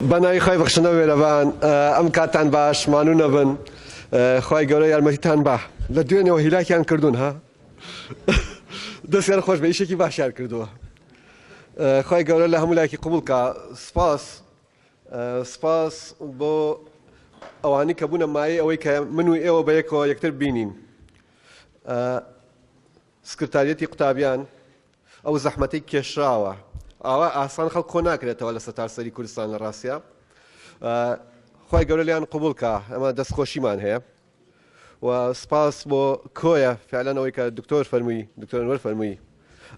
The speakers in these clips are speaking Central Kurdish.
بەناوی خوای بەخشندە و مێرەبان ئەم کاتتان باش مانونە بن خوای گەورە یارمەتیتان با لە دوێنێەوە هیلاکیان کردوون ها دەستیان خۆش بە ئیشێکی باشیان کردووە خوای گەورە لە هەموو لایکی قوبولکە سپاس سپاس بۆ ئەوانی کە بوونە مایە ئەوەی کە من و ئێوە بە یەکەوە یەکتر بینین سکرتاریەتی قوتابیان ئەو زەحمەتەی کێشراوە ئاوا ئاسان خەڵک کۆ ناکرێتەوە لە سەتار سەری کوردستان لە ڕاستە خی گەورە لیان قوبولکە ئەمە دەستخۆشیمان هەیە و سپاس بۆ کۆیە فعلەنەوەی کە دکتۆر فەرمووی دکتۆرەوەەر فەرمووی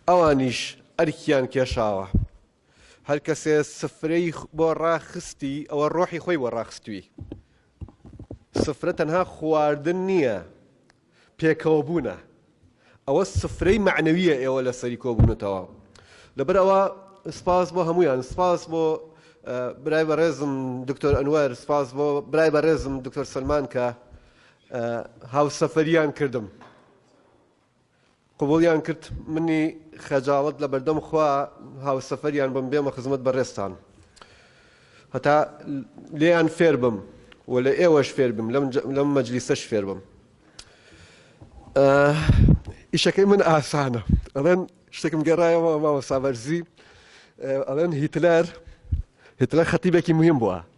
ئەوانیش ئەرکیان کێشاوە هەر کەسێ سفرەی بۆ ڕاخستی ئەوە ڕۆحی خۆی بۆ ڕاخستوی سفرە تەنها خواردن نییە پێکەوە بوونە ئەوە سفرەی مەعنەویە ئێوە لەسەری کۆبوونەتەوە لەبەر ئەوە سپاس بۆ هەمویان سپاس بۆ برای بەڕێزم دکتۆر ئەنوەر سپاس بۆ برای بەڕێزم دکتۆر سلمان کە هاوسەفەریان کردم قبوڵیان کرد منی خەجاڵەت لە بەردەم خوا هاوسەفەریان بم بێمە خزمەت بەڕێزتان هەتا لێیان فێر بم و لە ئێوەش فێر بم لەم مەجلیسەش فێر بم ئیشەکەی من ئاسانە ئەڵێن شتێکم گەڕایەوە ماوە سابەرزی ئەڵێن هیتلەر هیتلەر خەتیبێکی مهم بووە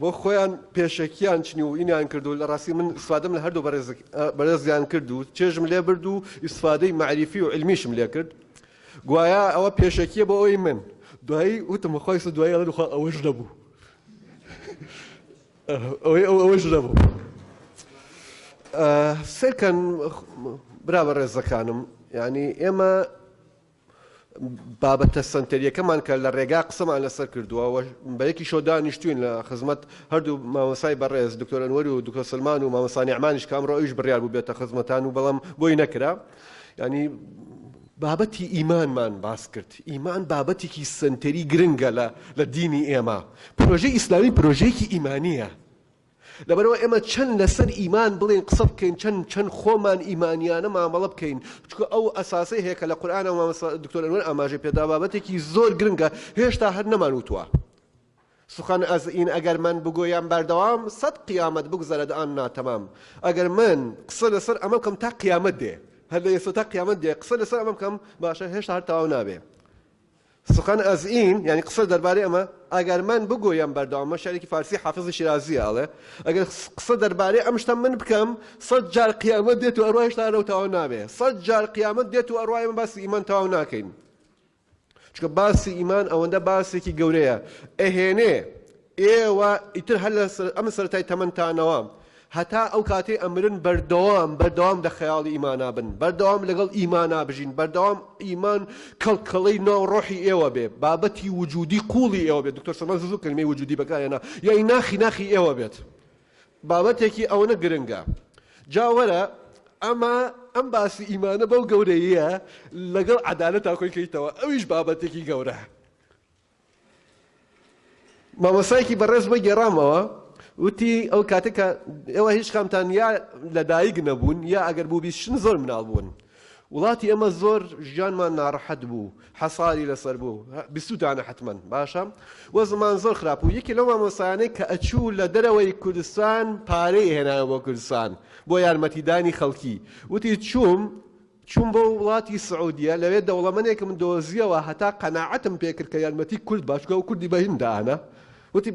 بۆ خۆیان پێشەکیان چنی و ئینیان کرد و لە ڕاستی من ئیسفادەم لە هەردوو بەڕێزیان کرد و چێژم لێ برد و ئیسفادەی مەعریفی و علمیشم لێ کرد گوایە ئەوە پێشەکیە بۆ ئەوی من دوایی وتم خۆی سە دوایی ئەڵێن خوا ئەوەش نەبوو ئەوەی ئەو ئەوەش نەبوو سێکەن برا بە ڕێزەکانم ینی ئێمە بابەتە سەنتەریەکەمان کە لە ڕێگا قسەمان لەسەر کردووە و بەیەکیشەوە دانیشتوین لە خزمەت هەردوو مامۆسای بەڕێز دکتۆر ئەنوەر و دکتۆر سلمان و مامۆسانی ئەمانیش کە ئەمڕۆ ئەویش بڕیار بوو بێتە خزمەتان و بەڵام بۆی نەکرا ینی بابەتی ئیمانمان باس کرد ئیمان بابەتێکی سنتەری گرنگە لە لە دینی ئێمە پرۆژەی ئیسلامی پرۆژەیەکی ئیمانیە لەبەرئەوە ئێمە چەند لەسەر ئیمان بڵێین قسە بکەین چەند چەند خۆمان ئیمانیانە مامەڵە بکەین چونکە ئەو ئەساسەی هەیە کە لە قورئانە مامۆستا دکتۆر ئەنوەر ئاماژەی پێدا بابەتێکی زۆر گرنگە هێشتا هەر نەمان وتووە سخن از این اگر من بگویم بردوام صد قیامت بگذرد آن ناتمام اگر من قسە لەسەر ئەمە بکەم تا قیامەت دێ هەر لە ئێستا تا قیامەت دێ قسە لەسەر ئەمە بکەم باشە هێشتا هەر تەواو نابێ سخن از این، یانی قسە دەربارەی ئەمە، ئەگەر من بگویم بەردەوام، ئەمە شعرێکی فارسی حافزی شیرازییە ئەڵێ، ئەگەر قسە دەربارەی ئەم شتە من بکەم، سەد جار قیامەت دێت و ئەڕوا هێشتا ئەرەو تەواو نابێ، سەد جار قیامەت دێت و ئەڕوا ئێمە باسی ئیمان تەواو ناکەین، چونکە باسی ئیمان ئەوەندە باسێکی گەورەیە، ئەهێنێ. ئێوە ئیتر هەر لە ئەم سەرەتای تەمەنتانەوە هەتا ئەو کاتەی ئەمرن بەردەوام بەردەوام لە خەیاڵی ئیمانا بن، بەردەوام لەگەڵ ئیمانا بژین، بەردەوام ئیمان کەڵکەڵەی ناو ڕۆحی ئێوە بێ، بابەتی وجودی قووڵی ئێوە بێ، دکتۆر سۆران زوو زوو کەلیمەی وجودی بەکار هێنا، یانی ناخی ناخی ئێوە بێت. بابەتێکی ئەوەنە گرنگە. جا وەرە ئەمە ئەم باسی ئیمانە بەو گەورەییە لەگەڵ عەدالەتا کۆی کەیتەوە، ئەویش بابەتێکی گەورە. مامۆستایەکی بەڕێز بۆی گێڕامەوە وتی ئەو کاتە کە ئێوە هیچ کامتان یا لە دایک نەبوون یا ئەگەر بوو بیست شن زۆر مناڵ بوون وڵاتی ئەمە زۆر ژیانمان ناڕەحەت بوو حەساری لەسەر بوو بیستوتانە حتمما باشە وە زمان زۆر خراپ و یەکی لەو مامۆستایانەی کە ئەچوو لە دەرەوەی کوردستان پارەی هێنایە بۆ کوردستان بۆ یارمەتیدانی خەڵکی وتی چووم چووم بۆ وڵاتی سعودیە لەوێ دەوڵەمەنێکم دۆزیەوە هەتا قەناعەتم پێکرد کە یارمەتی کورد باشە چونکە ئەو کوردی بە هیند دائەنا وتی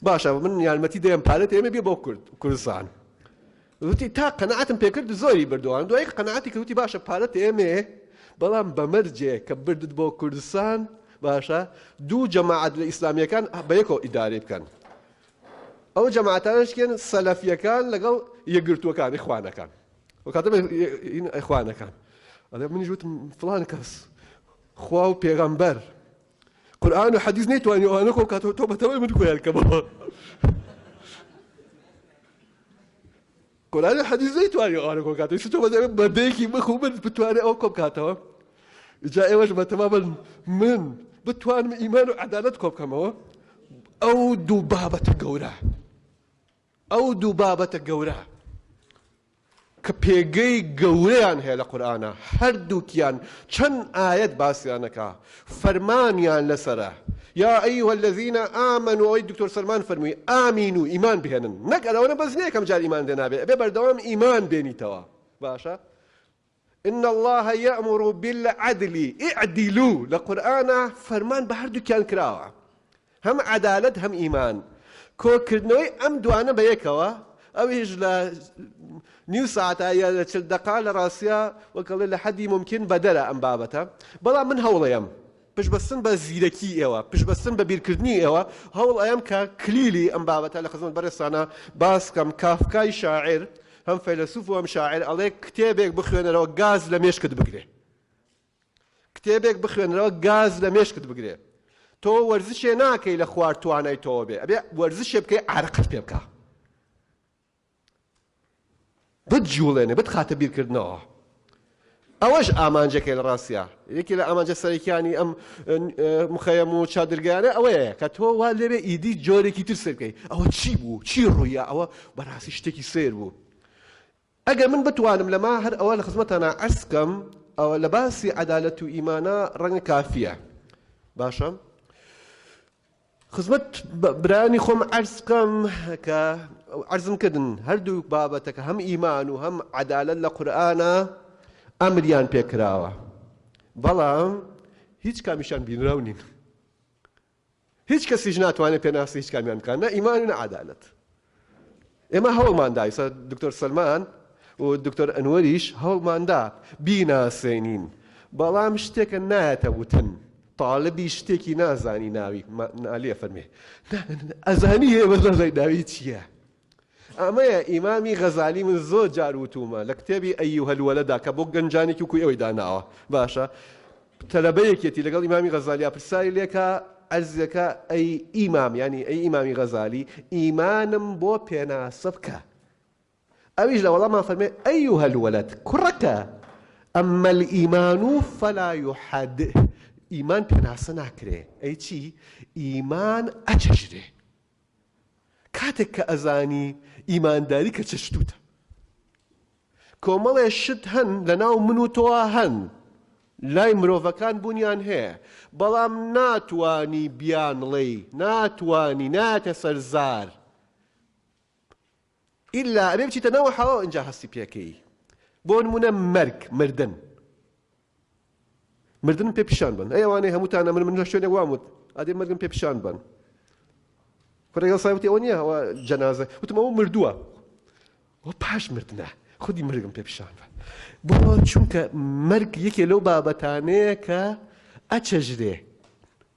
باشە من یارمەتی دەیەم پارەت ئێمە بێ بۆ کورد کوردستان وتی تا قەناعەتم پێکرد زۆری بردووان دوای قەناعەتی کە وتی باشە پارەت ئێمێ بەڵام بەمەرجێ کە بردت بۆ کوردستان باشە دوو جەماعەت لە ئیسلامیەکان بەیەکەوە ئیدارەی بکەن ئەو جەماعتانشکێن سەلەفیەکان لەگەڵ یەگرتووەکانی خوانەکان و کاتە ئەخوانەکان ئەڵێ منیش وتم فڵان کەس خوا و پێغەمبەر قورآن و حەدیث نەیتوانی ئەوانە خۆ کاتەوە تۆ بەتەوەی من خۆیان کەمەوە قورآن و حەدیث نەیتوانی ئەوانە خۆ کاتەوە تۆ بەدەوێ بەدەیەکی بخو من بتوانێ ئەو کۆم کاتەوە جا ئێوەش بەتەما بن من بتوانم ئیمان و عەدالەت کۆ بکەمەوە ئەو دوو بابەتە گەورە ئەو دوو بابەتە گەورە کە پێگەی گەورەیان هەیە لە قورئانا هەردووکیان چەند ئایەت باسیان ئەکا فەرمانیان لەسەرە یا ایها الذین آمنوا ئەوەی دکتۆر سەلمان فەرمووی ئامینو ئیمان بهێنن نەک ئەرەوەنە بەس نیە یەکەم جار ئیمانت هێنابێ ئەبێ بەردەوام ئیمان بێنیتەوە باشە ان اللە یامر بالعدل اعدلو لە قورئانا فەرمان بە هەردووکیان کراوە هەم عەدالەت هەم ئیمان کۆکردنەوەی ئەم دوانە بە یەکەوە ئەویش لە نیو ساعتا یا لە چل دەقا لە ڕاستیا وەک ئەڵێ لە حەدی مومکین بەدەرە ئەم بابەتە بەڵام من هەوڵەیەم پشتبەستن بە زیرەکی ئێوە، پشتبەستن بە بیرکردنی ئێوە، هەوڵ ئەیەم کە کلیلی ئەم بابەتە لە خزمەت بەڕێزتانا باس بکەم، کافکای شاعیر، هەم فەیلەسوف و هەم شاعیر ئەڵێ، کتێبێک بخوێنەرەوە گاز لە مێشکت بگرێ. کتێبێک بخوێنەرەوە گاز لە مێشکت بگرێ. تۆ وەرزشێ ناکەی لە خوار توانای تۆوە بێ، ئەبێ وەرزشێ بکەی عارەقەت پێ بکا. بتجوڵێنێ، بتخاتە بیرکردنەوە. ئەوەش ئامانجەکەی لە ڕاستیا. یەکێ لە ئامانجە سەرەکیانی ئەم مخەیەم و چادرگەیانە ئەوەیە کە تۆ وا لێبێ ئیدی جۆرێکی تر سەیر بکەی، ئەوە چی بوو؟ چی ڕوویا؟ ئەوە بە ڕاستی شتێکی سەیر بوو. ئەگەر من بتوانم لەمە هەر ئەوە لە خزمەتانا عەرز بکەم، ئەوە لە باسی عەدالەت و ئیمانا ڕەنگە کافییە. باشە. خزمەت برایانی خۆم عەرز بکەم کە عەرزم کردن هەردوو بابەتەکە هەم ئیمان و هەم عەدالەت لە قورئانا ئەمریان پێ کراوە بەڵام هیچ کامیشان بینراو نین هیچ کەسیش ناتوانێت پێناسی هیچ کامیان بکات نە ئیمان و نە عەدالەت ئێمە هەوڵمان دا، ئیستا دکتۆر سەلمان و دکتۆر ئەنوەریش هەوڵمان دا بیناسێنین، بەڵام شتێکە نایەتە وتن، تاڵبی شتێکی نازانی ناوی نالی ئەفەرمێ ئەزانی هەیە بەس نازانی ناوی چییە. ئەمەیە ئیمامی غەزالی من زۆر جار وتومە لە کتێبی ئەیوهەلوەلەدا کە بۆ گەنجانێکی وکوی ئەوەی داناوە باشە تەلەبە یەکێتی لەگەڵ ئیمامی غەزالیا پرساری لێکا عەرزیەکا ئەی ئیمام یانی ئەی ئیمامی غەزالی ئیمانم بۆ پێناسە بکە ئەویش لە وەڵامان فەرمێ ئەیوهە الولد کوڕەکە ئەمە الئیمان و فەلا یحد ئیمان پێناسە ناکرێ ئەی چی ئیمان ئەچەژرێ کاتێک کە ئەزانی ئیمانداری کە چ شتوتە کۆمەڵێ شت هەن لە ناو من و تۆوا هەن لای مرۆڤەکان بوونیان هەیە بەڵام ناتوانی بیانڵێی ناتوانی ناتە سەرزار ئیلا ئەبێ بچیتە ناو حەواو ئینجا هەستی پێکەیی بۆ نمونە مەرگ مردن مردن پێ پیشان بن ئەی ئەوانەی هەمووتان ئەمر من لە شوێنێک وام وت ئادێ مردن پێ پیشان بن کوڕێگەڵ سایوتی ئەوە نییە ئەوە جەنازە وتم ئەوە مردووە و پاش مردنە خودی مردم پێ پیشان بە بۆ چونکە مەرگ یەکێ لەو بابەتانەیە کە ئەچەژرێ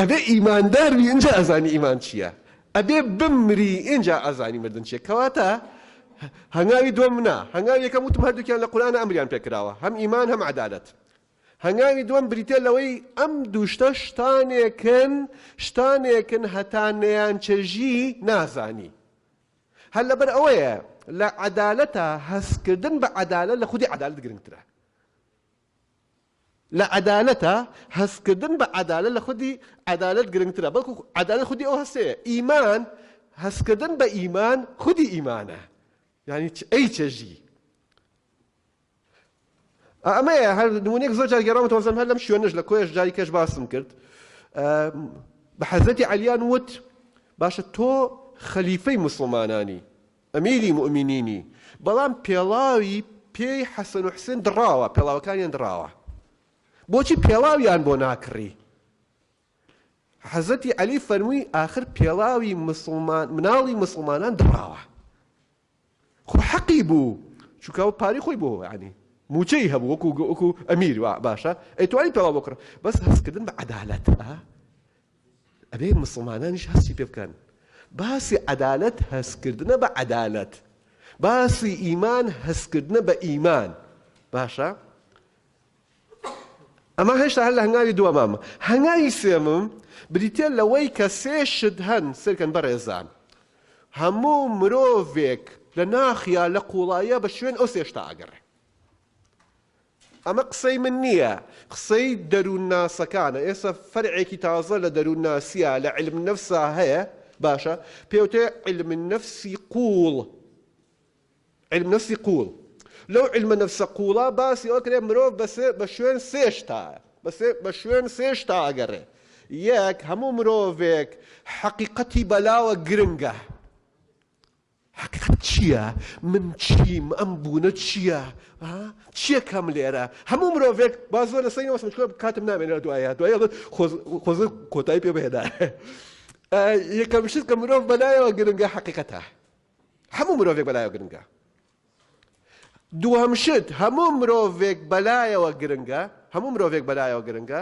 ئەبێ ئیماندار بی ئینجا ئەزانی ئیمان چیە ئەبێ بمری ئینجا ئەزانی مردن چیە کەواتە هەنگاوی دوم نا هەنگاوی یەکەم وتم هەردووکیان لە قورئان ئەمریان پێکراوە هەم ئیمان هەم عەدالەت هەنگاوی دوم بریتە لەوەی ئەم دووشتە شتانێکن شتانێکن هەتا نەیان چەژی نازانی هەر لەبەر ئەوەیە لە عەدالەتە هەستکردن بە عەدالە لە خودی عەدالت گرنگترە لە عەدالەتە، هەستکردن بە عەدالەت لە خودی عەدالەت گرنگترە، بەڵکو عەدالەت خودی ئەو هەستەیە، ئیمان، هەستکردن بە ئیمان خودی ئیمانە، یانی چ ئەی چەژی. ئا ئەمەیە، هەر نموونەیەک زۆر جار گێڕاومەتەوە، وەزانم هەر لەم شوێنەش لە کۆیەش جاری کەش باسم کرد، بە حەزرەتی عەلیان وت، باشە تۆ خەلیفەی موسڵمانانی، ئەمیری موئمینینی، بەڵام پێڵاوی پێی حەسەن و حوسێن دڕاوە، پێڵاوەکانیان دڕاوە، بۆچی پێڵاویان بۆ ناکڕی؟ حەزرەتی عەلی فەرمووی، ئاخر پێڵاوی موسڵمان، مناڵی موسڵمانان دڕاوە، خۆ حەقی بوو، چونکە ئەو پارەی خۆی بۆ یانی مووچەی هەبوو، وەکوو ئەمیر، وا باشە، ئەیتوانی پێڵاو بۆ کڕی، بەس هەستکردن بە عەدالەت، ئا، ئەبێ موسڵمانانیش هەستی پێ بکەن. باسی عەدالەت هەستکردنە بە عەدالەت. باسی ئیمان هەستکردنە بە ئیمان. باشە؟ ئەمە هێشتا هەر لە هەنگاوی دووەمامە. هەنگاوی سێمم بریتیە لەوەی کە سێ شت هەن سەیرکەن بەڕێزان. هەموو مرۆڤێک لە ناخیا لە قوڵاییا بە شوێن ئەو سێ شتە ئەگەڕێ. ئەمە قسەی من نییە، قسەی دەروونناسەکانە، ئێستا فەرعێکی تازە لە دەروونناسییە، لە عیلم النفسا هەیە، باشە، پێوترێ عیلم النفسی قووڵ، عیلم نەفسی قووڵ. لەو عیلمە نەفسە قووڵە باسی ئەوە کرێ مرۆڤ بە سێ، بە شوێن سێ شتە، بە سێ، بە شوێن سێ شتە ئەگەڕێ. یەک، هەموو مرۆڤێک حەقیقەتی بەلاوە گرنگە. حەقیقەت چیە من چیم ئەم بونە چیە ها چیەکەم لێرە هەموو مرۆڤێک با زۆر لەسەری نەوەستم چونکە کاتم نامێنێت دوایە دوای ئەڵێت خۆز خۆزگە کۆتایی پێ بهێنا یەکەم شت کە مرۆڤ بەلایەوە گرنگە حەقیقەتە هەموو مرۆڤێک بەلایەوە گرنگە دووەم شت هەموو مرۆڤێک بەلایەوە گرنگە هەموو مرۆڤێک بەلایەوە گرنگە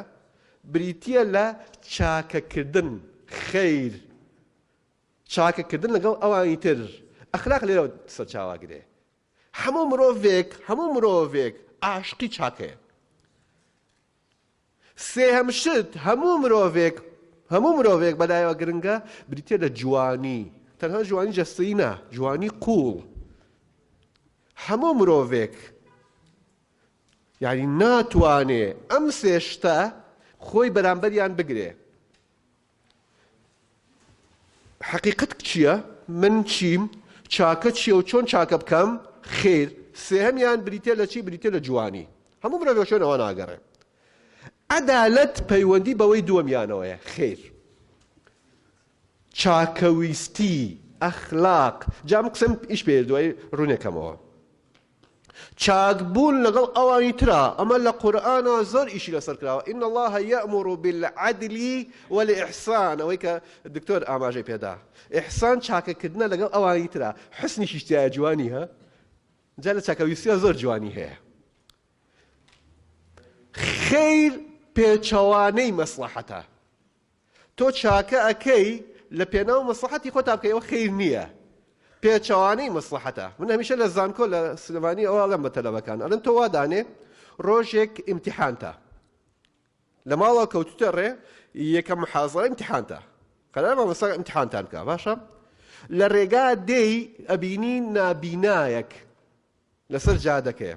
بریتیە لە چاکەکردن خیر چاکە کردن لەگەڵ ئەوانی تر ئەخلاق لێرەوە سەرچاوە ئەگرێ هەموو مرۆڤێک هەموو مرۆڤێک ئاشقی چاکەیە سێهەم شت هەموو مرۆڤێک هەموو مرۆڤێک بەلایەوە گرنگە بریتە لە جوانی تەنها جوانی جەستەی نا جوانی قوڵ هەموو مرۆڤێک یعنی ناتوانێ ئەم سێشتە خۆی بەرامبەریان بگرێ حەقیقەت چیە؟ من چیم؟ چاکە چیە و چۆن چاکە بکەم؟ خیر، سێهەمیان بریتیە لە چی؟ بریتیە لە جوانی. هەموو مرۆڤ بە شوێنەوە ناگەڕێ. عەدالەت پەیوەندی بەوەی دووەمیانەوەیە. خیر. چاکەویستی، ئەخلاق، جا من قسەم ئیش پێ دوای ڕوونەکەمەوە. چاک بوون لەگەڵ ئەوانی ترا، ئەمە لە قورئانا زۆر ئیشی لەسەر کراوە، ان اللە یامر بالعدل والاحسان، ئەوەی کە دکتۆر ئاماژەی پێ دا، احسان چاکە کردنە لەگەڵ ئەوانی ترا، حسنیشیش تیایە جوانی ها، جا لە چاکە ویستیا زۆر جوانی هەیە. خیر پێچەوانەی مەسڵەحەتە. تۆ چاکە ئەکەی لە پێناو مەسلحەتی خۆتا بکەی ئەوە خیر نییە پێچەوانەی مەسلحەتە من هەمیشە لە زانکۆ لە سلێمانی ئەوە ئەڵێم بە تەلەبەکان ئەلەن تۆ وادانێ ڕۆژێک ئیمتحانتە لە ماڵەوە کەوتوتە ڕێ یەکە محازڕە ئیمتحانتە قەرار مامۆستا ئیمتحانتان بکە باشە لە ڕێگا دێی ئەبینی نابینایەک لەسەر جادەکەیە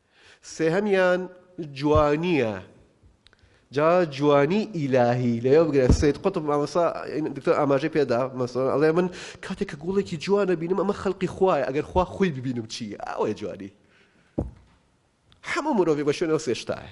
سێهەمیان جوانیە جا جوانی ئیلاهی لەوێ بگرە سید قطب مامەسا دکتۆر ئاماژەی پێدا مەسەن ئەڵێ من کاتێک کە گوڵێکی جوانە بینم ئەمە خەڵقی خوای ئەگەر خوا خۆی ببینم چی ئەوەی جوانی هەموو مرۆڤی بە شوێنەوە سێشتایە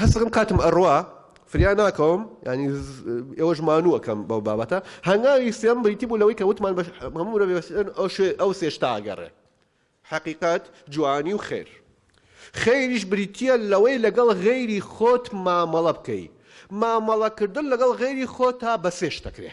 هەست دەکەم کاتم ئەڕوا فریا ناکەوم ینی ئێوەش مانووەکەم بەو بابەتە هەنگاوی سێم بریتی بوو لەوەی کە وتمان بە هەموو مرۆڤ ئەو شوێ ئەو سێشتا ئەگەڕێ حەقیقەت جوانی و خێر خێریش بریتە لەوەی لەگەڵ غێری خۆت مامەڵە بکەی مامەڵەکردن لەگەڵ غێری خۆ تا بە سێش دەکرێ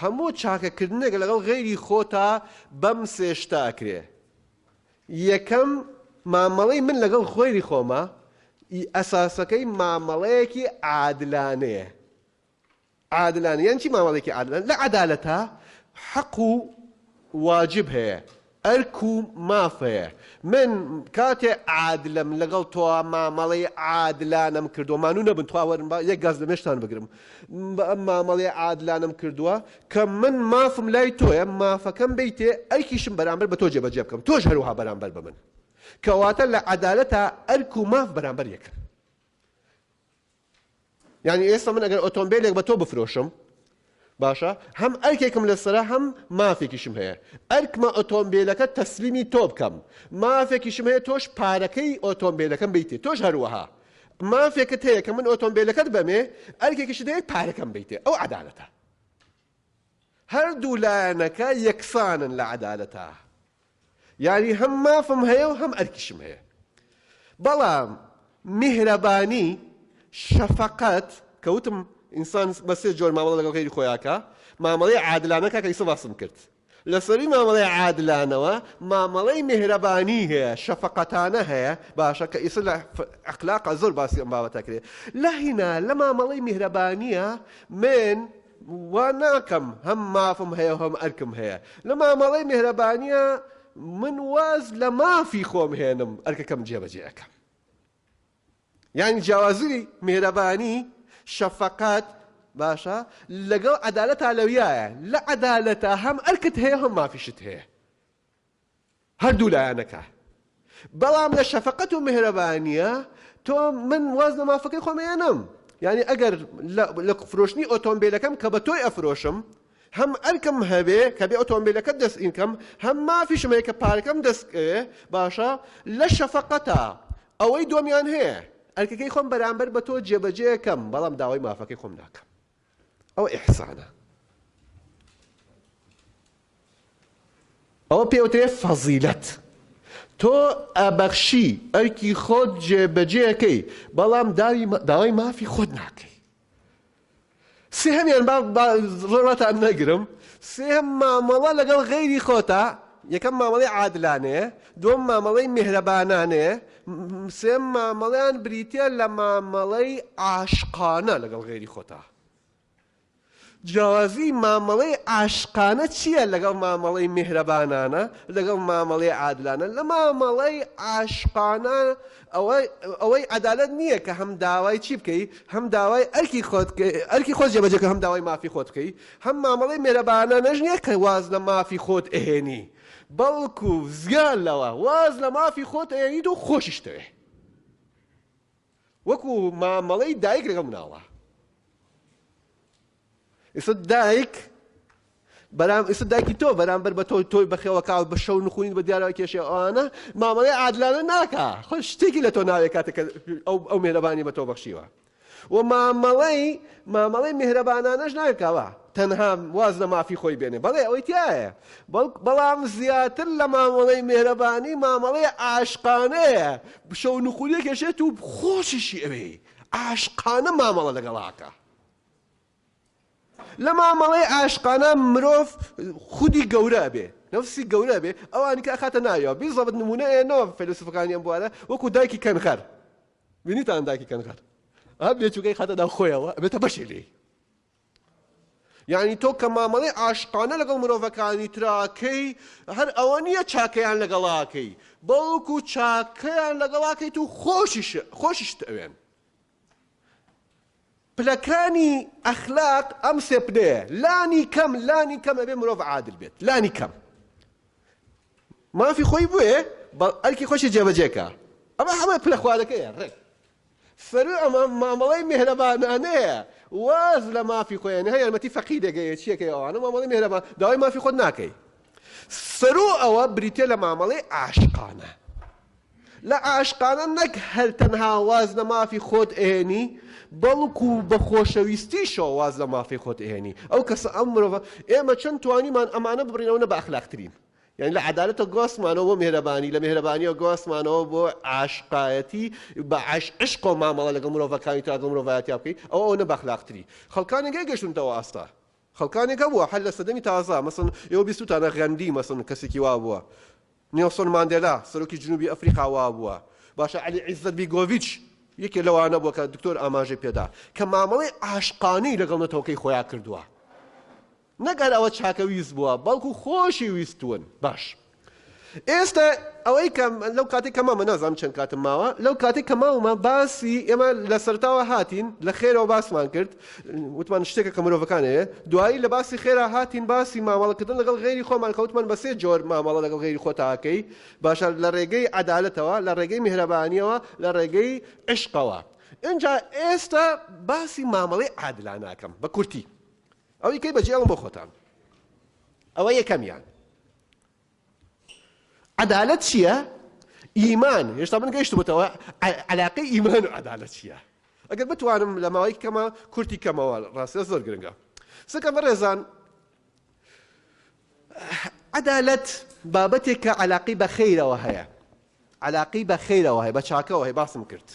هەموو چاکەکردنێک لەگەڵ غەیری خۆتا بەم سێ شتە ئەکرێ یەکەم مامەڵەی من لەگەڵ خۆیری خۆمە ئی ئەساسەکەی مامەڵەیەکی عادلانەیە عادلانە یان چی مامەڵێکی عادلان لە عەدالەتە حەق و واجب هەیە ئەرک و مافەیە. من کاتێ عادلم لەگەڵ تۆوە مامەڵەی عادلانەم کردووە، مانوو نەبن تخوا وەرن با یەک گاز لە مێشکتان بگرم، مامەڵەی عادلانەم کردووە کە من مافم لای تۆیە مافەکەم بەیتێ ئەرکیشم بەرامبەر بە تۆ جێبەجێ بکەم تۆش هەروەها بەرامبەر بە من. کەواتە لە عەدالەتا ئەرک و ماف بەرامبەر یەکن. یانی ئێستا من ئەگەر ئۆتۆمبیلێک بە تۆ بفرۆشم باشە هەم ئەرکێکم لەسرە هەم مافێکیشم هەیە ئەرکمە ئۆتۆمبیلەکە تەسلیمی تۆ بکەم مافێکیشم هەیە تۆش پارەکەی ئۆتۆمبیلەکەم بیتێ تۆش هەروەها مافێکت هەیە کە من ئۆتۆمبیلەکەت بەمێ ئەرکێکیش دەیە پارەکەم بیتێ ئەو عدالەتە هەردوو لایەنەکە یەکسانن لە عدالەتە یانی هەم مافم هەیە و هەم ئەرکیشم هەیە. بەڵام میهرەبانی، شەفەقەت، کە وتم ئینسان بە سێ جۆر مامەڵە لەگەڵ غەیری خۆی ئاکا، مامەڵەی عادلانە کاکە ئیسە باسم کرد. لە سەرووی مامەڵەی عادلانەوە مامەڵەی میهرەبانی هەیە، شەفەقەتانە هەیە، باشە کە ئیسە لە ئەخلاقا زۆر باسی ئەم بابەتە کرێ. لە هینا لە مامەڵەی میهرەبانییا من وا ناکەم هەم مافم هەیە و هەم ئەرکم هەیە لە مامەڵەی میهرەبانیا من واز لە مافی خۆم هێنم ئەرکەکەم جێبەجێ ئەکەم یانی جیاوازی میهرەبانی شەفەقەت باشە لەگەڵ عەدالەتا لەویایە لە عەدالەتا هەم ئەرکت هەیە هەم مافیشت هەیە هەردوو لایەنەکە بەڵام لە شەفەقەت و میهرەبانیە تۆ من واز لە مافەکەی خۆم ئەیەنم یعنی ئەگەر لە فرۆشتنی ئۆتۆمبیلەکەم کە بە تۆی ئەفرۆشم هەم ئەرکم هەبێ کە بێ ئۆتۆمبیلەکە دەست ئینکەم هەم مافیشم هەیە کە پارەکەم دەست باشە لە شەفەقەتە ئەوەی دۆمیان هەیە ئەرکەکەی خۆم بەرامبەر بە تۆ جێبەجێ یەکەم بەڵام داوای مافەکەی خۆم ناکەم ئەوە ئیحسانە. ئەوە پێ ئەوترێ فەزیلەت. تۆ ئەبەخشی، ئەرکی خۆت جێبەجێ ئەکەی، بەڵام داوای مافی خۆت ناکەی. سێهەمیان با زۆر واتان نەگرم، سێهەم مامەڵە لەگەڵ غەیری خۆتە، یەکەم مامەڵەی عادلانەیە، دووەم مامەڵەی میهرەبانانەیە، سێم مامەڵەیان بریتیە لە مامەڵەی عاشقانە لەگەڵ غەیری خۆتا. جیاوازی مامەڵەی عاشقانە چییە لەگەڵ مامەڵەی میهرەبانانە لەگەڵ مامەڵەی عادلانە لە مامەڵەی عاشقانە ئەوەی عەدالەت نییە کە هەم داوای چی بکەی هەم داوای ئەرکی خۆت ئەرکی خۆت جێبەجێ کە هەم داوای مافی خۆت بکەی هەم مامەڵەی مێرەبانانەش نییە کە واز لە مافی خۆت ئەهێنی بەڵکو زیان لەوە واز لە مافی خۆت ئەیەنیت و خۆشیش دەوێ وەکو مامەڵەی دایک لەگەڵ مناڵە ئێستا دایک بەرام ئێستا دایکی تۆ بەرامبەر بە تۆی تۆی بەخێوە کاو بە شەو نخونین بە دیارەوە کێشێ ئەوانە مامەڵی عادلانە ناکە خۆ شتێکی لە تۆ ناوێ کاتێک ئەو ئەو مێرەبانی بە تۆ بەخشیوە و مامەڵەی مامەڵەی میهرەبانانەش ناکە کەوا تەنها واز لە مافی خۆی بێنێ بەڵێ ئەوەی تیایە بەڵک بەڵام زیاتر لە مامەڵەی میهرەبانی مامەڵەی عاشقانەیە بشە و نوخولیەک ئەشێت و خۆشیشی ئەوێی عاشقانە مامەڵە لەگەڵاکە لە مامەڵەی عاشقانە مرۆڤ خودی گەورە ئەبێ نفسی گەورە بێ ئەوانی کە ئەخاتە ناویەوە بیزەبت نمونەیە نەوە فەلسفەکانی ئەم بوارە وەکو دایکی کەنخەر بینیتان ئەنداکی کەنغەر ئەم بێچووکەی خاتە ناو خۆیەوە ئەبێتە بەشێ لێی یعنی تۆ کە مامەڵی عاشقانە لەگەڵ مرۆڤەکانی تراکەی هەر ئەوە نییە چاکەیان لەگەڵاکەی بەڵکو چاکەیان لەگەڵاکەیت و خۆشیش خۆشیشت ئەوێن پلەکانی ئەخلاق ئەم سێ پلەیە لانی کەم لانی کەم ئەبێ مرۆڤ عادل بێت لانی کەم مافی خۆی بوێ بە ئەرکی خۆشی جێبەجێکە ئەمە هەمە پلە خوارەکەیە ڕێک سەروی ئەمە مامەڵی مهرەبانانەیە واز لە مافی خۆیان هە یارمەتی فەقی دەگەیە چیەکەی ئەوانە مامەڵی مهرەبان داوای مافی خۆت ناکەی سەرو ئەوە بریتە لە مامەڵی عاشقانە لە عاشقانە نەک هەر تەنها واز لە مافی خۆت ئەهێنی بەڵکو بە خۆشەویستیشەوە واز لە مافی خۆت ئەهێنی ئەو کەسە ئەم مرۆڤە ئێمە چەند توانیمان ئەمانە ببڕین ئەوە نە بە ئەخلاقترین یعنی لە عدالەتە گۆسمانەوە بۆ مهرەبانی لە مهرەبانیەوە گۆسمانەوە بۆ عاشقایەتی بە عش عشق و مامەڵە لەگەڵ مرۆڤەکانی تاگەڵ مرۆڤایەتیا بکەی ئەو ئەو نە بەخلاقتری خەڵکانێک گەشتونتەوە ئاستا خەڵکانێکە بووە حل لە سەدەمی تازە مەسن ئێوە بیستوتانە غەندی مەسن کەسێکی وا بووە نێڵسۆن ماندێلا سەرۆکی جنوبی ئەفریقا وابووە، باشە عەلی عیزەت بیگۆڤیچ یەکێ لەوانە بووە کە دکتۆر ئاماژەی پێدا کە مامەڵەی عاشقانەی لەگەڵ نەتەوەکەی خۆیان کردووە. نەک هەر ئەوە چاکەویست بووە بەڵکو خۆشی ویستوون. باش. ئێستا ئەوەی کە لەو کاتێک کە مامە نازانم چەند کاتم ماوە لەو کاتێک کە ماومە باسی ئێمە لە سەرتاوە هاتین لە خێرەوە باسمان کرد وتمان شتێکە کە مرۆڤەکان هەیە دوایی لە باسی خێرا هاتین باسی مامەڵەکردن لەگەڵ غێری خۆمان کەوتمان بە سێ جۆر مامەڵە لەگەڵ غێری خۆتاکەی باشە لە ڕێگەی عدالەتەوە لە ڕێگەی میهرەبانیەوە لە ڕێگەی عشقەوە اینجا ئێستا باسی مامەڵەی عادلا ناکەم بە کورتی ئەوی کەی بەجێڵم بۆ خۆتان ئەوە یەکەمیان عەدالەت چییە؟ ئیمان، هێشتا من گەیشتبووتەوە عەلاقەی ئیمان و عەدالەت چییە؟ ئەگەر بتوانم لە ماوەیەکی کەما کورتی کەمەوە ڕاستە زۆر گرنگە سەکە بەڕێزان عەدالەت بابەتێک کە عەلاقی بە خەیرەوە هەیە عەلاقی بە خەیرەوە هەیە بە چاکەوە هەیە باسم کرد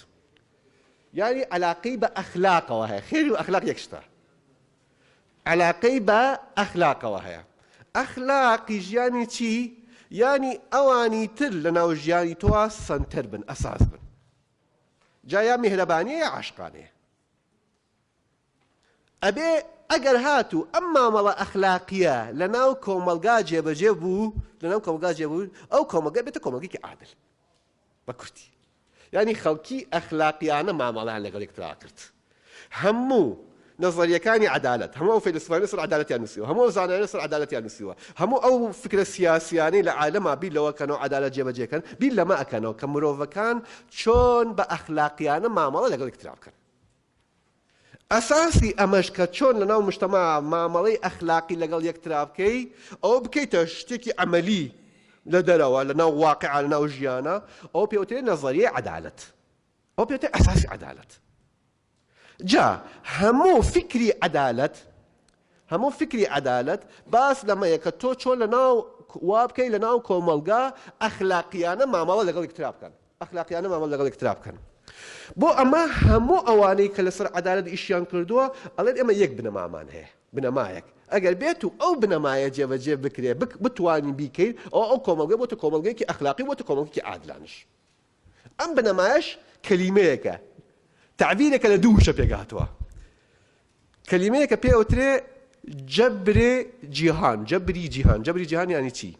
یاری عەلاقی بە ئەخلاقەوە هەیە خێری و ئەخلاق یەک شتە عەلاقەی بە ئەخلاقەوە هەیە. ئەخلاق ی ژیانی چی؟ یانی ئەوانی تر لە ناو ژیانی تۆا سەنتەر بن، ئەساس بن. جا یا میهرەبانیە یا عاشقانەیە. ئەبێ ئەگەر هاتوو ئەم مامەڵە ئەخلاقیە لە ناو کۆمەڵگا جێبەجێ بوو، لە ناو کۆمەڵگا جێبوو، ئەو کۆمەڵگە بێتە کۆمەڵگەیەکی عادل. بە کورتی یانی خەڵکی ئەخلاقیانە مامەڵەیان لەگەڵ یەکترا کرد هەموو نەزەریەکانی عەدالەت هەموو ئەو فەیلسوفانە سەر عەدالەتیان نووسیوە هەموو ئەو زانایانە سەر عەدالەتیان نووسیوە هەموو ئەو فکرە سیاسیانەی لە عالەما بیر لەوە کەنەوە عەدالەت جێبەجێکەن بیر لەمە ئەکەنەوە کە مرۆڤەکان چۆن بە ئەخلاقیانە مامەڵە لەگەڵ یەکترا بکەن ئەساسی ئەمەش کە چۆن لەناو مشتەما مامەڵەی ئەخلاقی لەگەڵ یەکترا بکەی، ئەوە بکەیتە شتێکی عەمەلی لە دەرەوە، لەناو واقیعا، لەناو ژیانا، ئەوە پێی وترێ نەزەریەی عەدالەت. ئەوە پێی وترێ ئەساسی عەدالەت. جا هەموو فیکری عەدالەت، هەموو فیکری عەدالەت باس لەمەیە کە تۆ چۆن لەناو وا بکەی لەناو کۆمەڵگا ئەخلاقیانە مامەڵە لەگەڵ یەکترا بکەن ئەخلاقیانە مامەڵە لەگەڵ یەکترا بکەن بۆ ئەمە هەموو ئەوانەی کە لەسەر عەدالەت ئیشیان کردووە ئەڵێن ئێمە یەک بنەمامان هەیە بنەمایەک ئەگەر بێت و ئەو بنەمایە جێبەجێ بکرێ بتوانین بیکەین ئەو ئەو کۆمەڵگە بۆتە کۆمەڵگەیەکی ئەخلاقی بۆتە کۆمەڵگەی عادلانش ئەم بنەمایەش کەلیمەیەکە، تەعبیرێکە لە دوو وشە پێکهاتووە. کەلیمەیەکە پێی ئەوترێ جەبرێ جیهان، جەبری جیهان، جەبری جیهان یانی چی؟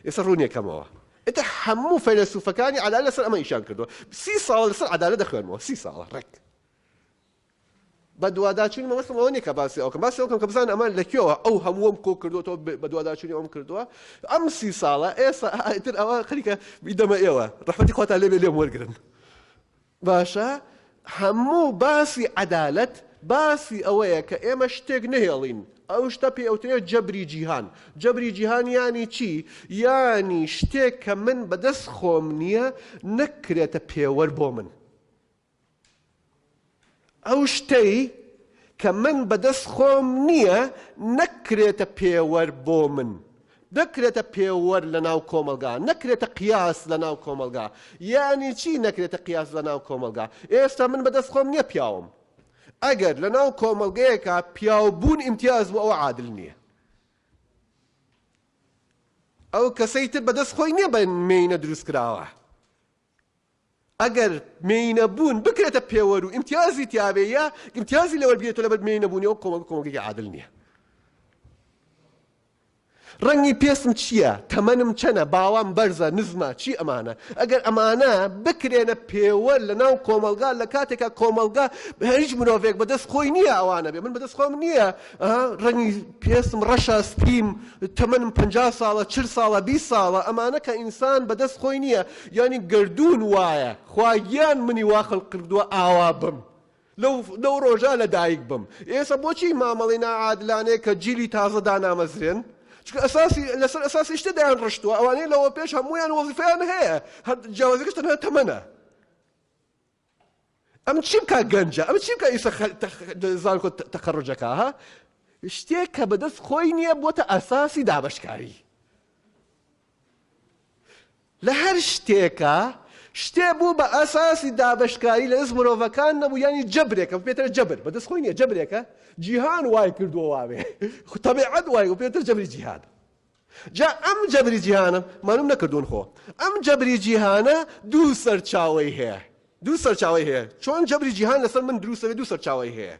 ئێستا ڕوونی یەکەمەوە. ئێتە هەموو فەیلەسوفەکانی عەدالەت لەسەر ئەمە ئیشان کردووە. سی ساڵە لەسەر عەدالەت دەخوێنمەوە، سی ساڵە ڕێک. بەدواداچوونی مەبەستم ئەوە نیە کە باسی ئەوکەم باسی ئەوکەم کە بزان ئەمان لە کوێوە ئەو هەمووم کۆ کردوەوە بەدواداچوونی ئەوم کردووە ئەم سی ساڵە ئێستا ئایتر ئەوە خەریکە بیدەمە ئێوە ڕەحمەتی خواتان لێبێ لێم وەرگرن باشە هەموو باسی عەدالەت باسی ئەوەیە کە ئێمە شتێک نهێڵین ئەو شتە پێ ئەوترێ جەبری جیهان جەبری جیهان ینی چی ینی شتێک کە من بەدەست خۆم نییە نەکرێتە پێوەەر بۆ من ئەو شتەی کە من بەدەست خۆم نییە نەکرێتە پێوەر بۆ من، نەکرێتە پێوەر لەناو کۆمەڵگا، نەکرێتە قیاس لەناو کۆمەڵگا. یەعنی چی نەکرێتە قیاس لەناو کۆمەڵگا؟ ئێستا من بەدەست خۆم نییە پیاوم. ئەگەر لەناو کۆمەڵگەیەکا پیاوبوون ئیمتیاز بوو ئەوە عادل نییە. ئەو کەسەی تر بەدەست خۆی نییە بە مێینە دروست کراوە. ئەگەر مێینە بوون بکرێتە پێوەر و ئیمتیازی تیاابێ یا ئیمتیازی لەوەر بێتە لەبەر مێینە بوونی ئەو کۆمەک کۆمەگەی عادل نییە ڕەنگی پێسم چییە تەمەنم چەنە باوام بەرزە نزمە چی ئەمانە ئەگەر ئەمانە بکرێنە پێوە لە ناو کۆمەلگا لە کاتێکا کۆمەلگا هیچ مرۆڤێک بەدەست خۆی نییە ئەوانە بێ من بەدەست خۆم نییە ئەها ڕەنگی پێستم ڕەشە سپیم تەمەنم پەنجا ساڵە چل ساڵە بیست ساڵە ئەمانە کە ئینسان بەدەست خۆی نییە یانی گەردوون وایە خوا گیان منی وا خەلق کردووە ئاوا بم لەو لەو ڕۆژە لەدایک بم ئێستا بۆچی مامەڵەی ناعادلانەیە کە جیلی تازە دانامەزرێن چونکە ئەساسی لەسەر ئەساسی شتە دایان ڕشتووە ئەوانەیە لەوە پێش هەموویان وەزیفەیان هەیە هەر جیاوازیەکەش تەنها تەمەنە ئەم چی بکا گەنجە ئەم چی بکا ئیسە زانکۆ تەقەڕجەکە ها شتێک کە بەدەست خۆی نییە بۆتە ئەساسی دابشکاری لە هەر شتێکە شتێ بوو بە ئاساسی دابشکاری لە دەست مرۆڤەکان نەبوو ینی جەبرێکە پێتر جەبر بەدەست خۆی نیە جەبرێکە جیهان وای کردووە واێ خوتەبێعەت وای و پێتر جەبری جیهاد جا ئەم جەبری جیهانە، مانم نەکردوون خۆ، ئەم جەبری جیهانە دوو سەرچاوەی هەیە، دوو سەرچاوەی هەیە، چۆن جەبری جیهان لەسەر من دروست دەبێت دوو سەرچاوەی هەیە،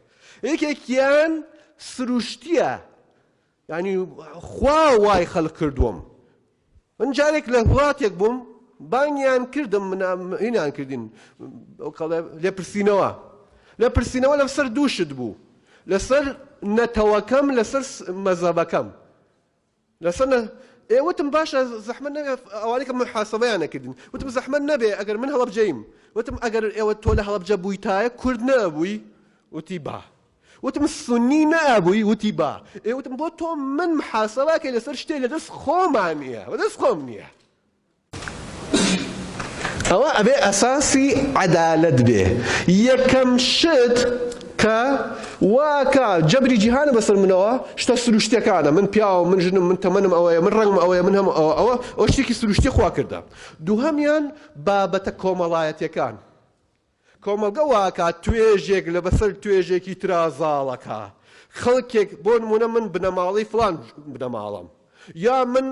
یەکێکیان سروشتییە، یانی خوا وای خەلق کردووم، من جارێک لە وڵاتێک بووم بانگیان کردم منیان کردین لێپرسینەوە، لێپرسینەوە لەسەر دوو شت بوو، لەسەر نەتەوەکەم لەسەر مەزەبەکەم، لەسەنە ئێ وتم باشە زەحمەت نەبێ ئەوانەی کە محاسبەیان نەکردین وتم زەحمەت نەبێ ئەگەر من هەڵەبجەیم وتم ئەگەر ئێوە تۆ لە هەڵەبجە بوویتایە کورد نەبووی وتی با وتم سنی نەبووی وتی با ئێ وتم بۆ تۆ من محاسبەکەی لەسەر شتێ لە دەست خۆمان نییە بە دەست خۆم نییە ئەوە ئەبێ ئەساسی عەدالەت بێ یەکەم شت کە واکە جەبری جیهانە بەسەر منەوە شتە سروشتەکانە من پیاوە من ژنم من تەمەنم ئەوەیە من ڕەنگم ئەوەیە من هەم ئەوە ئەوە ئەو شتێکی سروشتی خوا کردە دووهەمیان بابەتە کۆمەڵایەتەکان کۆمەڵگە واکا توێژێک لە بەسەر توێژێکی ترا زاڵەکا. خەڵکێک بۆ نموونە من بنەماڵەی فڵان بنەماڵەم. یا من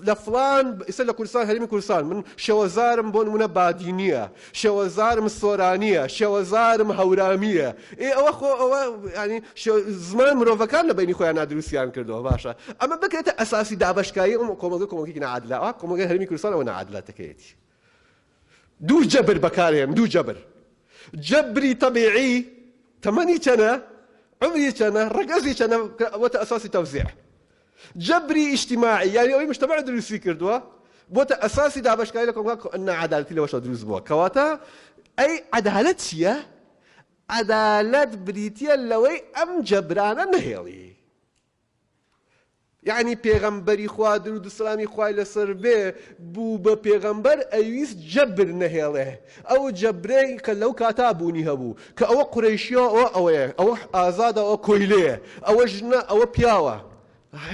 لە فڵان ئیسە لە کوردستان هەرێمی کوردستان من شێوەزارم بۆ نموونە بادینیە، شێوەزارم سۆرانیە، شێوەزارم هەورامیە. ئێ ئەوە خۆ ئەوە یانی زمان مرۆڤەکان لە بەینی خۆیانا دروستیان کردووە باشە. ئەمە بکرێتە ئەساسی دابەشکاری ئەم کۆمەڵگە کۆمەڵگەیەکی ناعادلە. ئەوا کۆمەڵگەی هەرێمی کوردستان ئەوە ناعادلەتەکەیەتی. دوو جەبر بەکارهێن، دوو جەبر، جەبری تەبیعی، تەمەنی چەنە، عومری چەنە، ڕەگەزی چەنە، کە ئەبۆتە ئەساسی تەوزیع. جەبری ئیجتیماعی، یانی ئەوەی مجتەمەع دروستی کردووە، بۆتە ئەساسی دابەشکاری لە کۆمەڵگا، کە ناعەدالەتی لەوەشەوە دروست بووە. کەواتە ئەی عەدالەت چییە؟ عەدالەت بریتییە لەوەی ئەم جەبرانە نەهێڵی. یەعنی پێغەمبەری خوا دروود و سەلامی خوای لەسەر بێ بوو بە پێغەمبەر ئەیویست جەبر نەهێڵێ ئەو جەبرەی کە لەو کاتا بوونی هەبوو کە ئەوە قورەیشیە ئەوە ئەوەیە ئەوە ئازادە ئەوە کۆیلەیە ئەوە ژنە ئەوە پیاوە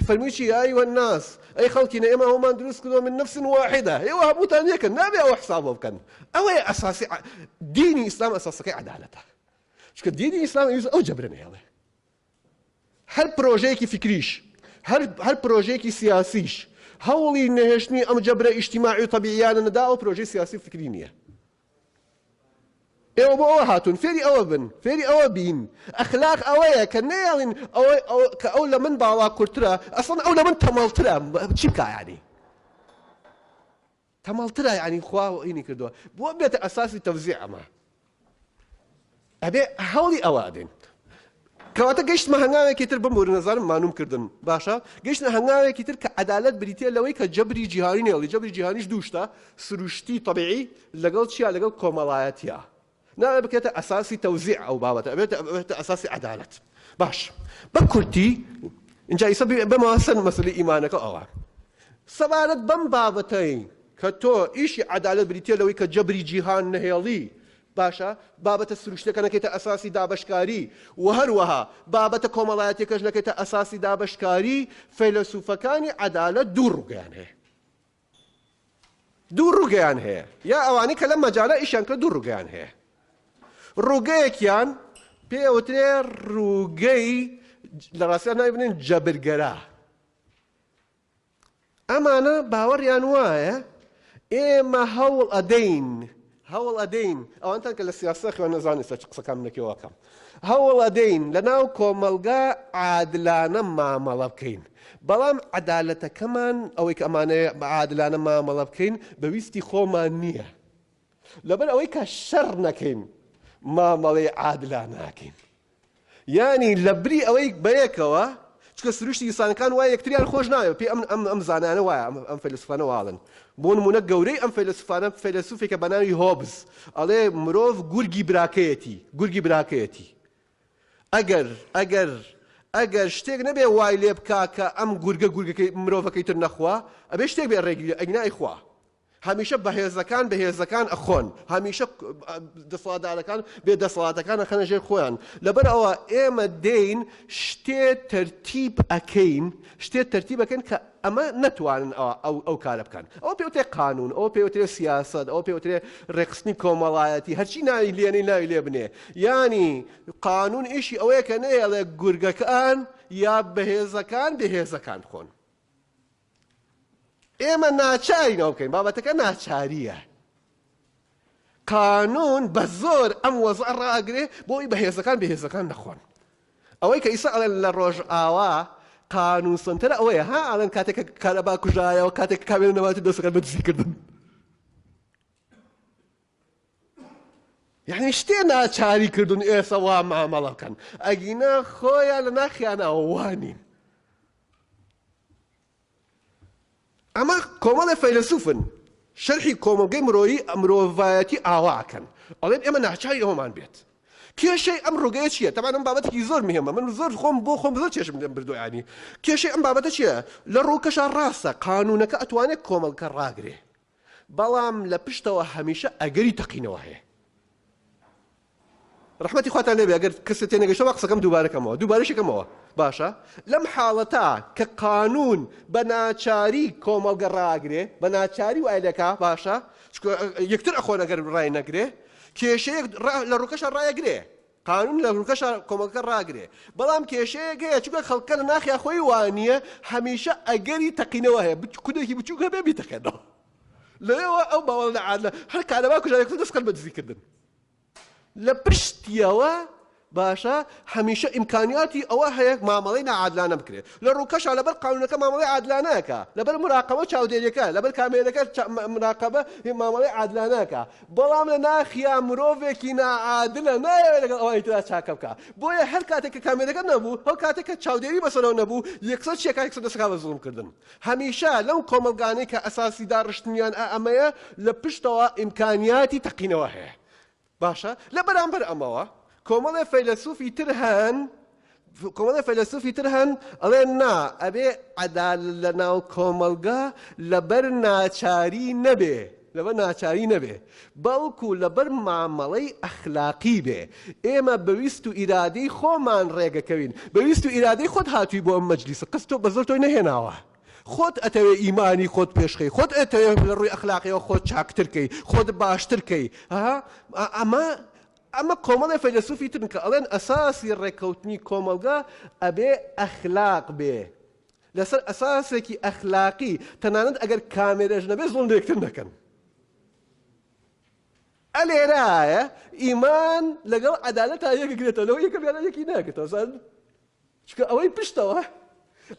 فەرمووی چی یا ئەیوە الناس ئەی خەڵکینە ئێمە هەموومان دروست کردووە من نفس واحدە ئێوە هەمووتان یەکن نابێ ئەوە حساب بۆ بکەن ئەوەیە ئەساسی دینی ئیسلام ئەساسەکەی عەدالەتە چونکە دینی ئیسلام ئەویست ئەو جەبرە نەهێڵێ هەر پرۆژەیەکی فیکریش، هەر پرۆژەیەکی سیاسیش، هەوڵی نەهێشتنی ئەم جەبرە ئیجتیماعی و تەبیعییانە نەدا، ئەوە پرۆژەی سیاسی و فیکری نییە. ئێوە بۆ ئەوە هاتوون فێری ئەوە بن، فێری ئەوە بین. ئەخلاق ئەوەیە کە نەیەڵین کە ئەو لە من باڵاکورترە، ئەسڵەن ئەو لە من تەمەڵترە. چی بکا یانی؟ تەمەڵترە یانی خوا هینی کردوە بۆ بێتە ئەساسی تەوزیع ئەمە ئەبێ هەوڵی ئەوە ئەدەین کەواتە گەشتمە هەنگاوێکی تر بم وەرنەزانم مانوم کردن باشە گەشتە هەنگاوێکی تر کە عدالت بریتە لەوەی کە جەبری جیهانی نێڵی جەبری جیهانیش دووشتە سروشتی طبعی لەگەڵ چیا لەگەڵ کۆمەڵایەتە نابێت بکرێتە ئەساسی تەوزیع ئەو بابەتە ئەبێت ئەبێتە ئەساسی عەدالەت باش بە کورتی ئینجا ئیسە بمەوە سەر مەسەلی ئیمانەکە ئەوە سەبارەت بەم بابەتەی کە تۆ ئیشی عەدالەت بریتە لەوەی کە جەبری جیهان نەهێڵی باشە بابەتە سروشتەکە نەکەیتە ئەساسی دابشکاری و هەروەها بابەتە کۆمەڵایەتەکەش نەکەیتە ئەساسی دابشکاری فەیلەسوفەکانی عەدالەت دوو ڕووگەیان هەیە دوو ڕووگەیان هەیە یا ئەوانەی کە لەم مەجالە ئیشیان کردووە دوو ڕووگەیان هەیە. ڕووگەیەکیان پێی ئەوترێ ڕووگەی لە ڕاستیدا ناوی بنێن جەبرگەرا. ئەمانە باوەڕیان وایە ئێمە هەوڵ ئەدەین هەوڵ ئەدەین، ئەوانتان کە لە سیاسەت خوێن نەزان ئێستا چ قسەکانم لە کێوە کەم، هەوڵ ئەدەین لە ناو کۆمەڵگا عادلانە مامەڵە بکەین، بەڵام عەدالەتەکەمان ئەوەی کە ئەمانەیە عادلانە مامەڵە بکەین بە ویستی خۆمان نییە، لەبەر ئەوەی کە شەڕ نەکەین مامەڵەی عادلانە ئەکەین. یانی لە بری ئەوەی بەیەکەوە چونکە سروشتی ئینسانەکان وایە یەکتریان خۆش ناوێت پێ ئەم ئەم ئەم زانایانە وایە ئەم ئەم فەیلەسوفانە واڵن بۆ نمونە گەورەی ئەم فەیلەسوفانە فەیلەسوفێکە بە ناوی هۆبز ئەڵێ مرۆڤ گورگی براکەیەتی گورگی براکەیەتی ئەگەر ئەگەر ئەگەر شتێک نەبێ وای لێ بکا کە ئەم گورگە گورگەکەی مرۆڤەکەی تر نەخوا ئەبێ شتێک بێ ڕێگری ئەگنا ئەیخوا هەمیشە بەهێزەکان بەهێزەکان ئەخۆن، هەمیشە دەسەڵاتدارەکان بێ دەسەڵاتەکان ئەخەنە ژێر خۆیان، لەبەر ئەوە ئێمە دێین شتێ تەرتیب ئەکەین، شتێ تەرتیب ئەکەین کە ئەمە نەتوانن ئەوە ئەو کارە بکەن، ئەوە پێی وترێ قانوون، ئەوە پێی وترێ سیاسەت، ئەوە پێی وترێ ڕێکخستنی کۆمەڵایەتی، هەرچی ناوی لێنەی ناوی لێ بنێ، یانی قانوون ئیشی ئەوەیە کە نەیەڵێ گورگەکان یا بەهێزەکان بێهێزەکان خۆن. ئێمە ناچارین ئەوە بکەین، بابەتەکە ناچارییە. قانون بە زۆر ئەم وەزعە ڕاگرێ بۆ ئەوی بەهێزەکان بێهێزەکان نەخۆن. ئەوەی کە ئیسا ئەڵێن لە ڕۆژئاوا قانون سنتەرە ئەوەیە ها ئەڵێن کاتێک کە کارەبا کوژایەوە کاتێک کامێرە نەماتی دەستەکان بە دزیکردن. یعنی شتێ ناچاری کردون ئێسە وا مامەڵە بکەن ئەگینا خۆیان لە ناخیانەوە وانین ئەمە کۆمەڵە فەیلسوفن شەرحی کۆمەلگەی مرۆیی ئەمرۆڤایەتی ئاواکەن ئەڵێن ئێمە ناچاری ئەومان بێت کێشەی ئەم ڕوگەیە چیە تەمان ئەم بابەتێکی زۆر مهمە من زۆر خۆم بۆ خۆم زۆر چێشم لەم بردویانی کێشەی ئەم بابەتە چیە لە ڕووکەشە ڕاستە قانونەکە ئەتوانێت کۆمەڵکە ڕاگرێ بەڵام لە پشتەوە هەمیشە ئەگەری تەقینەوە هەیە. ڕەحمەتی خواتان لێبێ ئەگەر کەسێ تێنەگەشتە با قسەکەم دووبارە کەمەوە دووبارەشی کەمەوە باشە لەم حاڵەتا کە قانون بە ناچاری کۆمەڵگە ڕاگرێ بە ناچاری وای لەکا باشە یەکتر ئەخۆن ئەگەر ڕای نەگرێ کێشەیەک لە ڕووکەشە ڕایەگرێ قانون لە هولکەشا کۆمەڵگەکە ڕاگرێ بەڵام کێشەیەک هەیە چونکە خەڵکە لە ناخیا خۆی وانیە هەمیشە ئەگەری تەقینەوە هەیە بچ کودێکی بچووک هەبێ بیتەقێنەوە لەوێەوە ئەو باوەڵ لە عادە هەر کارەبا کوژارێکتر دەستکرد بە دزیکردن لە پشتیەوە باشە هەمیشە ئیمکانیاتی ئەوە هەیە مامەڵی نەعادلانە بکرێت لە ڕووکەشە لەبەر قانونەکە مامەڵی عادلانەکە لەبەر مراقەوە چاودێریەکە لەبەر کامێرەکە مراقەبە مامەڵی عادلانەکە بەڵام لە ناخیا مرۆڤێکی ناعادلە نایەوێت لەگەڵ ئەوانی تردا چاکە بکا بۆیە هەر کاتێک کە کامێرەکە نەبوو ئەو کاتێک کە چاودێری بەسەرەوە نەبوو یەکسەر چیە کە یەکسەر دەسەکا بە زوڵم کردن هەمیشە لەو کۆمەڵگانەی کە ئەساسی داڕشتنیان ئا ئەمەیە لە پشتەوە ئیمکانیاتی تەقینەوە هەیە باشە لە بەرامبەر ئەمەوە کۆمەڵێ فەیلەسوفی تر هەن کۆمەڵێ فەیلەسوفی تر هەن ئەڵێن نا ئەبێ عەدالەت لە ناو کۆمەڵگا لەبەر ناچاری نەبێ لەبەر ناچاری نەبێ بەڵکو لەبەر مامەڵەی ئەخلاقی بێ ئێمە بە ویست و ئیرادەی خۆمان ڕێگەکەوین بە ویست و ئیرادەی خۆت هاتووی بۆ ئەم مەجلیسە قەس تۆ بە زۆر تۆی نەهێناوە خۆت ئەتەوێ ئیمانی خۆت پێشخەی خۆت ئەتەوێ لە ڕووی ئەخلاقیەوە خۆت چاکتر کەی خۆت باشتر کەی ها ئەمە ئەمە کۆمەڵێ فەیلەسوفی ترن کە ئەڵێن ئەساسی ڕێککەوتنی کۆمەڵگا ئەبێ ئەخلاق بێ لەسەر ئەساسێکی ئەخلاقی تەنانەت ئەگەر کامێرەش نەبێ زوڵم بە یەکتر نەکەن. ئە لێرایە ئیمان لەگەڵ عەدالەتا یەک گرێتەوە لەوە یەکەمیانە یەکی ناگرێتەوە زان چونکە ئەوەی پشتەوە،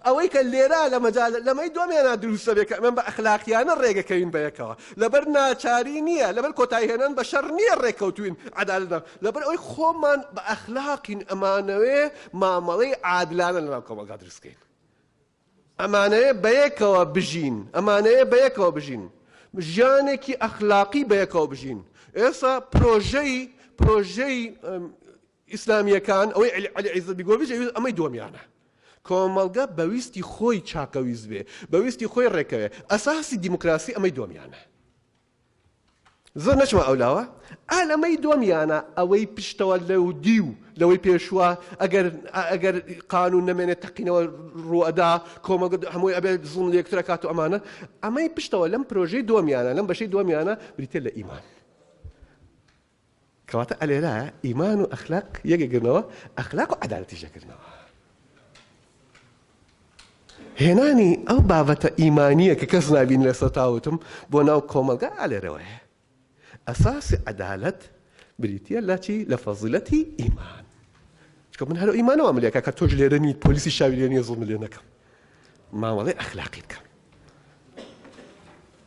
ئەوەی کە لێرە لە مەجال لەمەی دومێنا دروست دەبێت کە ئەمە بە ئەخلاقیانە ڕێگەکەوین بە یەکەوە، لەبەر ناچاری نییە، لەبەر کۆتایی هێنان بە شەڕ نییە ڕێککەوتووین عەدالەت بە، لەبەر ئەوەی خۆمان بە ئەخلاقین ئەمانەوێ مامەڵەی عادلانە لەناو کۆمەڵگا دروست بکەین. ئەمانەوێ بە یەکەوە بژین، ئەمانەوێ بە یەکەوە بژین، ژیانێکی ئەخلاقی بە یەکەوە بژین. ئێستا پرۆژەی پرۆژەی ئیسلامییەکان، ئەوەی عەلی عیزەت بیگۆڤیچ ئەویست ئەمەی دووەمیانە. کۆمەڵگە بە ویستی خۆی چاکەویست بێ، بە ویستی خۆی ڕێکەوێ، ئەساسی دیموکراسی ئەمەی دووەمیانە. زۆر نەچمە ئەو لاوە، ئا لەمەی دووەمیانە ئەوەی پشتەوە لەو دیو لەوەی پێشووە، ئەگەر ئەگەر قانوون نەمێنێ تەقینەوە ڕوو ئەدا، کۆمەڵگە هەمووی ئەبێ زوڵم لە یەکتر ئەکات و ئەمانە، ئەمەی پشتەوە لەم پرۆژەی دووەمیانە، لەم بەشەی دووەمیانە بریتییە لە ئیمان. کەواتە ئەلێرە ئیمان و ئەخلاق یەکەگرنەوە ئەخلاق و عەدالەتیش یەکگرنەوە. هێنانی ئەو بابەتە ئیمانیە کە کەس نابین لە سەتاوتم بۆ ناو کۆمەلگا ئالێرەوەیە ئەساسی عدالت بریتە لە چی لە فەزیلەتی ئیمان چکە من هەرو ئیمانەوە ملێکە کە تۆش لێرە نیت پۆلیسی شاویێنە زڵ لێ نەکەم مامەڵی ئەخلاقی بکەم